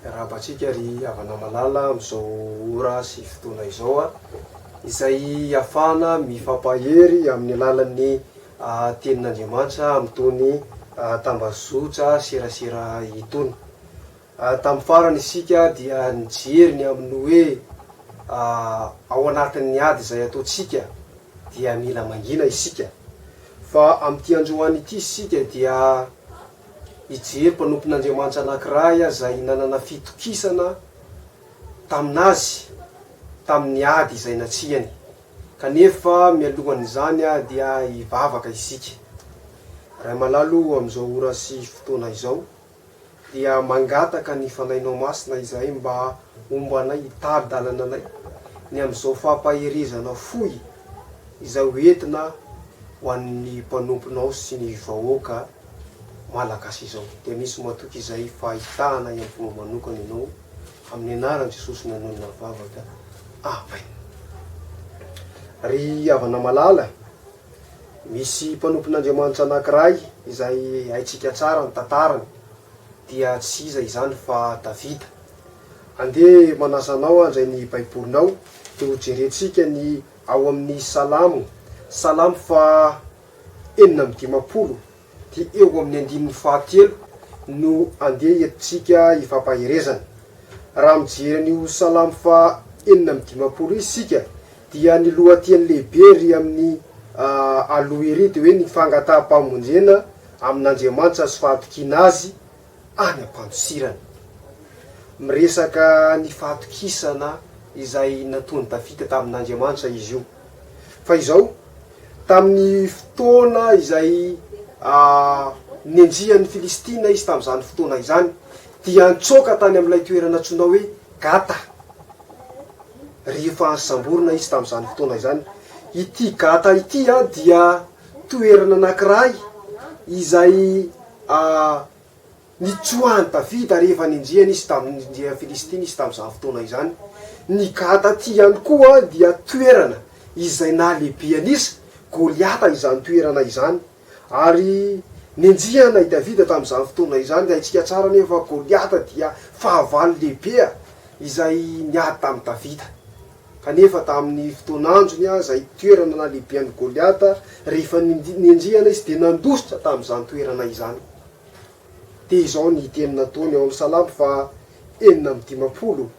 Miarahaba antsika ry havana malala amin'izao ora sy fotoana izao a! izay ahafahana mifampahery amin'ny alalan'ny tenin'Andriamanitra amin'itony tambazotra serasera itony. Ary tamin'ny farany isika dia nijery ny amin'ny hoe ao anatin'ny ady izay ataontsika dia mila mangina isika. Fa amin'ity androany ity isika dia hijery mpanompon'Andriamanitra anankiray izay nanana fitokisana tamin'Azy tamin'ny ady izay natsihany. Kanefa mialohan'izany dia hivavaka isika. Ray malalo, amin'izao ora sy fotoana izao. dia mangataka ny Fanahinao Masina izahay mba homba anay, hitari-dalana anay ny amin'izao fampaherezana fohy izay ho entina ho an'ny mpanomponao sy ny vahoaka Malagasy izao. Dia misy matoky izay fahitana ihany fomba manokana ianao, amin'ny anaran'i Jesosy nanonona ny vavaka. Amen. Ry havana malala. Misy mpanompon'Andriamanitra anankiray izay haintsika tsara ny tantarany, dia tsy iza izany fa Davida. Andeha manasa anao handray ny Baibolinao dia hojerentsika ny ao amin'ny Salamo, Salamo faha enina amby dimampolo, Ity eo amin'ny andininy fahatelo no andeha entintsika hifampaherezana. Raha mijery an'io Salamo faha enina amby dimampolo io isika dia ny lohateny lehibe ery amin'ny aloha ery dia hoe ny fangataham-pamonjena amin'Andriamanitra sy fahatokiana Azy any am-pandosirana. Miresaka ny fahatokisana izay nataon'i Davida tamin'Andriamanitra izy io. Fa izao, tamin'ny fotoana izay nenjehan'ny Filistina izy tamin'izany fotoana izany, dia nitsoaka tany amin'ilay toerana antsoina hoe Gata, rehefa samborina izy tamin'izany fotoana izany. Ity Gata ity dia toerana anankiray izay Nitsoahan'i Davida rehefa nendrehany izy tamin'ny nendrehan'ny Filistina izy tamin'izany fotoana izany. Ny Gata ity ihany koa dia toerana izay nahalehibehan'izy Goliata izany toerana izany. Ary nenjehana i Davida tamin'izany fotoana izany. Ny haintsika tsara anefa fa Goliata dia fahavalo lehibe izay niady tamin'i Davida. Kanefa tamin'ny fotoan'androny, izay toerana nahalehibehan'i Goliata, rehefa nenjehana izy dia nandositra tamin'izany toerana izany. Dia izao ny teny nataony ao amin'ny Salamo faha enina amby dimampolo,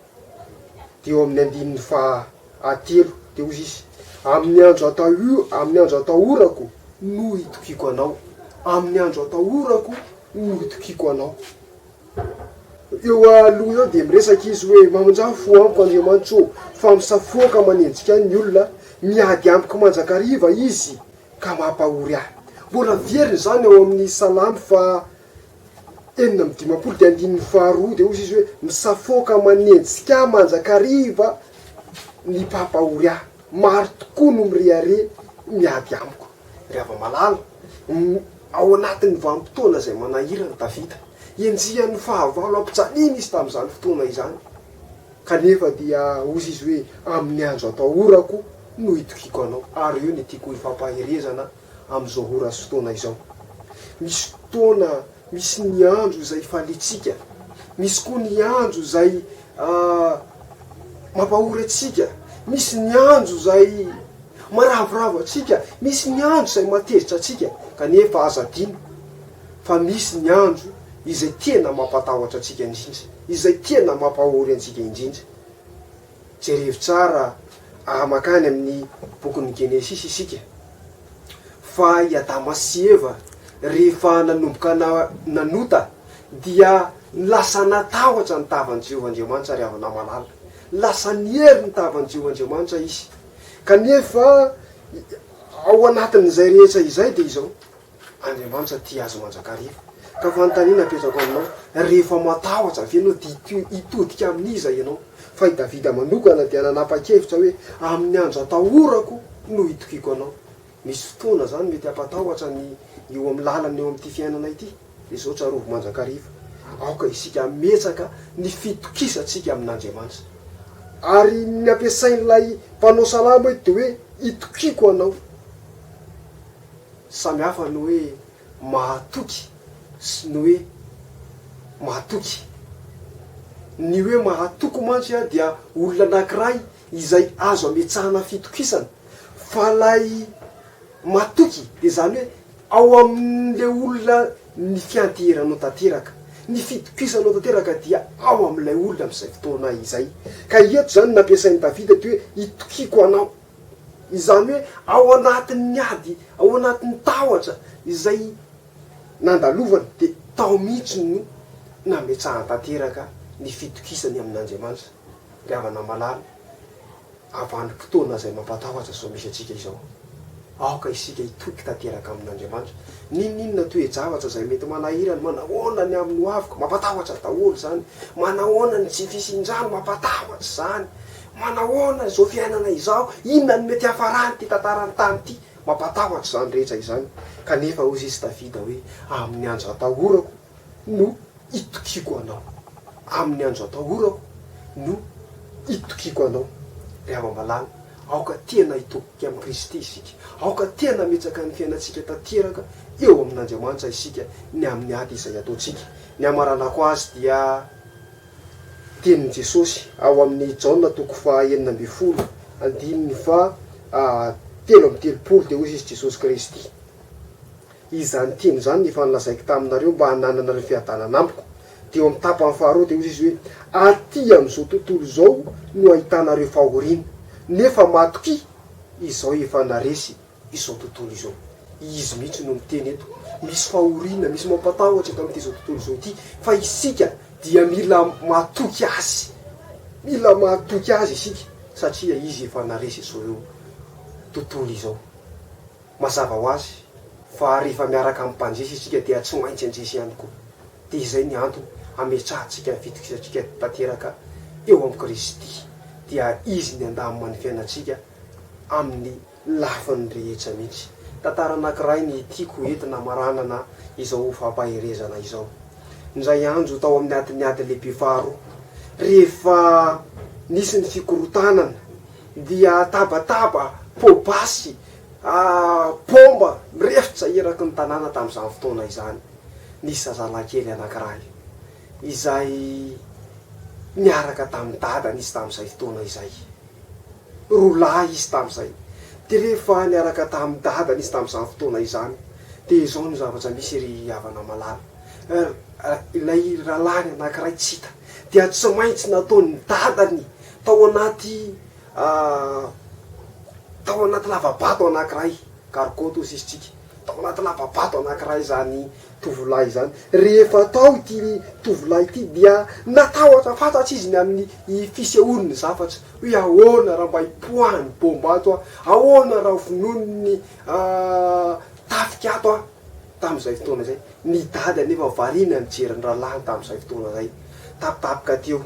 dia eo amin'ny andininy faha telo, dia hoy izy, Amin'ny andro atahio, amin'ny andro atahorako no itokiako Anao, amin'ny andro atahorako no itokiako Anao. Eo aloha eo dia miresaka izy hoe, Mamonjà fo amiko Andriamanitso ô, fa misafoaka manenjika ahy ny olona, miady amiko mandrakariva izy, Ka mampahory ahy. Mbola miverina izany ao amin'ny Salamo faha enina amby dimampolo dia andininy faha roa dia hozy izy hoe, misafoaka manenjika ahy mandrakariva ny mpampahory ahy, maro tokoa no mirehareha miady amiko. Ry hava-malala, ao anatin'ny vanim-potoana izay manahirana, Davida, enjehan'ny fahavalo ampijaliana izy tamin'izany fotoana izany. Kanefa dia hozy izy hoe, Amin'ny andro atahorako no itokiako anao, ary eo ny tiako hifampaherezana amin'izao ora sy fotoana izao. Misy fotoana, misy ny andro izay ifaliantsika, misy koa ny andro izay mampahory antsika, misy ny andro izay maravoravo antsika, misy ny andro izay mahatezitra antsika. Kanefa aza adino. fa misy ny andro izay tena mampatahotra antsika indrindra, izay tena mampahory antsika indrindra. Jerevo tsara raha mankany amin'ny bokin'ny Genesisy isika, fa i Adama sy Eva, rehefa nanomboka nanota, dia lasa natahotra ny tavan'i Jehovah Andriamanitra, ry havana malala. Lasa niery ny tavan'i Jehovah Andriamanitra izy. Kanefa, ao anatin'izay rehetra izay, dia izao, Andriamanitra tia azy mandrakariva. Ka fanontaniana apetrako aminao, rehefa matahotra ve ianao dia hitodika amin'iza ianao? Fa i Davida manokana dia nanapa-kevitra hoe, Amin'ny andro atahorako no itokiako anao. Misy fotoana izany mety hampatahotra ny eo amin'ny lalana eo amin'ity fiainana ity. Izao tsarovy mandrakariva, aoka isika hametraka ny fitokisantsika amin'Andriamanitra. Ary ny ampiasain'ilay mpanao salamo eto dia hoe, itokiako anao. Samy hafa ny hoe mahatoky sy ny hoe matoky. Ny hoe mahatoky mantsy dia olona anankiray izay azo ametsahana fitokisana, fa ilay matoky dia izany hoe ao amin'ilay olona ny fianteheranao tanteraka, ny fitokisanao tanteraka dia ao amin'ilay olona amin'izay fotoana izay. Ka eto izany nampiasain'i Davida ity hoe itokiako anao. Izany hoe ao anatin'ny ady, ao anatin'ny tahotra izay nandalovany dia tao mihitsy no nametsahany tanteraka ny fitokisany amin'Andriamanitra. Ry havana malala, avanim-potoana izay mampatahotra izao misy antsika izao. Aoka isika hitoky tanteraka amin'Andriamanitra. N'inon'inona toe-javatra izay mety manahirana, manahoana ny amin'ny hoaviko, mampatahotra daholo izany, manahoana ny tsy fisian-drano, mampatahotra izany, Manahoana izao fiainana izao? Inona no mety hafaran'ity tantaran'ny tany ity? Mampatahotra izany rehetra izany. Kanefa hoy izy Davida hoe, Amin'ny andro atahorako no itokiako anao. Amin'ny andro atahorako no itokiako anao. Ry hava-malala, aoka tena hitoky amin'i Kristy isika. Aoka tena hametsaka ny fiainantsika tanteraka eo amin'Andriamanitra isika ny amin'ny ady izay ataontsika. Ny hamaranako azy dia. tenin'i Jesosy ao amin'i Jaona toko faha enina ambin'ny folo andininy faha telo amby telopolo dia hoy izy Jesosy Kristy izany teny izany efa nolazaiko taminareo mba hanananareo fiadanana amiko dia eo amin'ny tapany faharoa dia hoy izy hoe aty amin'izao tontolo izao no ahitanareo fahoriana nefa matokia izaho efa naresy izao tontolo izao. Izy mihitsy no miteny eto, misy fahoriana, misy mampatahotra eto amin'ity izao tontolo izao ity, fa isika dia mila matoky Azy, mila matoky Azy isika, satria Izy efa naharesy izao ireo tontolo izao. Mazava ho azy fa rehefa miaraka amin'ny Mpandresy isika dia tsy maintsy handresy ihany koa. Dia izay ny antony hametrahantsika ny fitokisantsika tanteraka eo amin'i Kristy, dia Izy ny handamina ny fiainantsika amin'ny. lafin'ny rehetra mihitsy. Tantara anankiray ny tiako ho entina hamaranana izao fampaherezana izao. Indray andro tao amin'ny adin'ny ady lehibe faharoa, rehefa nisy ny fikorontanana, dia tabataba, pot basy, baomba mirefitra eraky ny tanàna tamin'izany fotoana izany. Nisy zazalahikely anankiray izay niaraka tamin'ny dadany izy tamin'izay fotoana izay. Roa lahy izy tamin'izay, dia rehefa niaraka tamin'ny dadany izy tamin'izany fotoana izany, dia izao no zavatra misy ry havana malala, ilay rahalahiny anankiray tsy hita, dia tsy maintsy nataon'ny dadany tao anaty tao anaty lava-bato anankiray, gargotte hoy sisitsika, tao anaty lava-bato anankiray izany, tovolahy izany. Rehefa tao ity tovolahy ity dia natahotra fatratra izy ny amin'ny fisehoany ny zavatra hoe ahoana raha mba hipoahan'ny baomba ato aho, ahoana raha vonoin'ny tafika ato aho tamin'izay fotoana izay. Ny dady anefa variana nijery ny rahalahiny tamin'izay fotoana izay, tapitapika teo.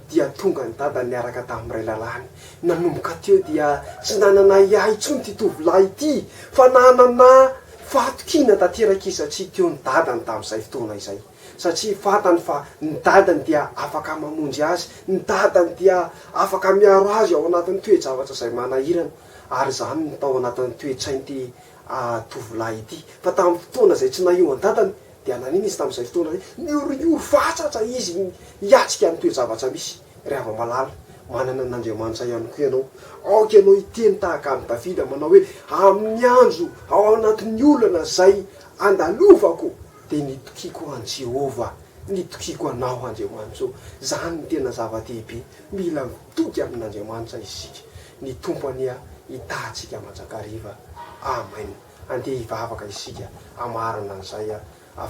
Dia tonga ny dadany niaraka tamin'ny ray lalàny. Nanomboka teo dia tsy nanana ahiahy intsony ity tovolahy ity fa nanana fahatokiana tanteraka izy satria teo ny dadany tamin'izay fotoana izay. Satria fantany fa ny dadany dia afaka mamonjy azy, ny dadany dia afaka miaro azy ao anatin'ny toe-javatra izay manahirana. Ary izany no tao anatin'ny toe-tsain'ity tovolahy ity. Fa tamin'ny fotoana izay tsy nahio an'i dadany Dia nanina izy tamin'izay fotoana izay? Nioriory fatratra izy hiatrika ny toe-javatra misy. Ry hava-malala, manana an'Andriamanitra ihany koa ianao. Aoka ianao hiteny tahaka an'i Davida manao hoe, Amin'ny andro ao anatin'ny olana izay andalovako, dia nitokiako an'i Jehovah. Nitokiako anao, Andriamanitra ô. Izany no tena zava-dehibe. Mila mitoky amin'Andriamanitra isika. Ny Tompo anie hitahy antsika mandrakariva. Amen. Andeha hivavaka isika hamarana an'izay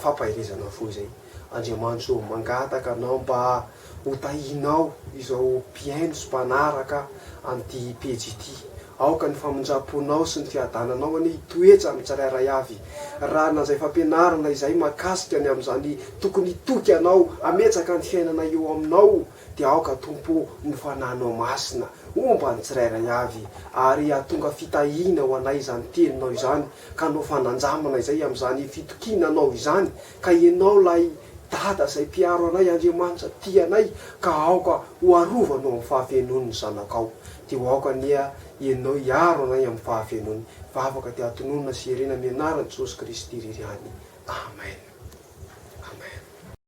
fampaherezana fo izay. Andriamanitso ô, mangataka Anao mba ho tahinao izao mpihaino sy mpanaraka an'ity pejy ity. Aoka ny famindram-ponao sy ny fiadananao anie hitoetra amin'ny tsirairay avy. Raha na izay fampianarana izay mahakasika ny amin'izany tokony hitoky Anao, hametraka ny fiainana eo Aminao, Dia aoka, Tompo ô, ny Fanahinao Masina homba ny tsirairay avy, ary hahatonga fitahiana ho anay izany Teninao izany, ka hanao fanandramana izay amin'izany fitokiana Anao izany, ka Ianao ilay Dada izay mpiaro anay, Andriamanitra tia anay, ka aoka ho arovanao amin'ny fahafenoany ny Zanakao. Dia ho aoka anie Ianao hiaro anay amin'ny fahafenoany. Vavaka dia tononina sy herena amin'ny Anaran'i Jesosy Kristy irery ihany. Amen. Amen.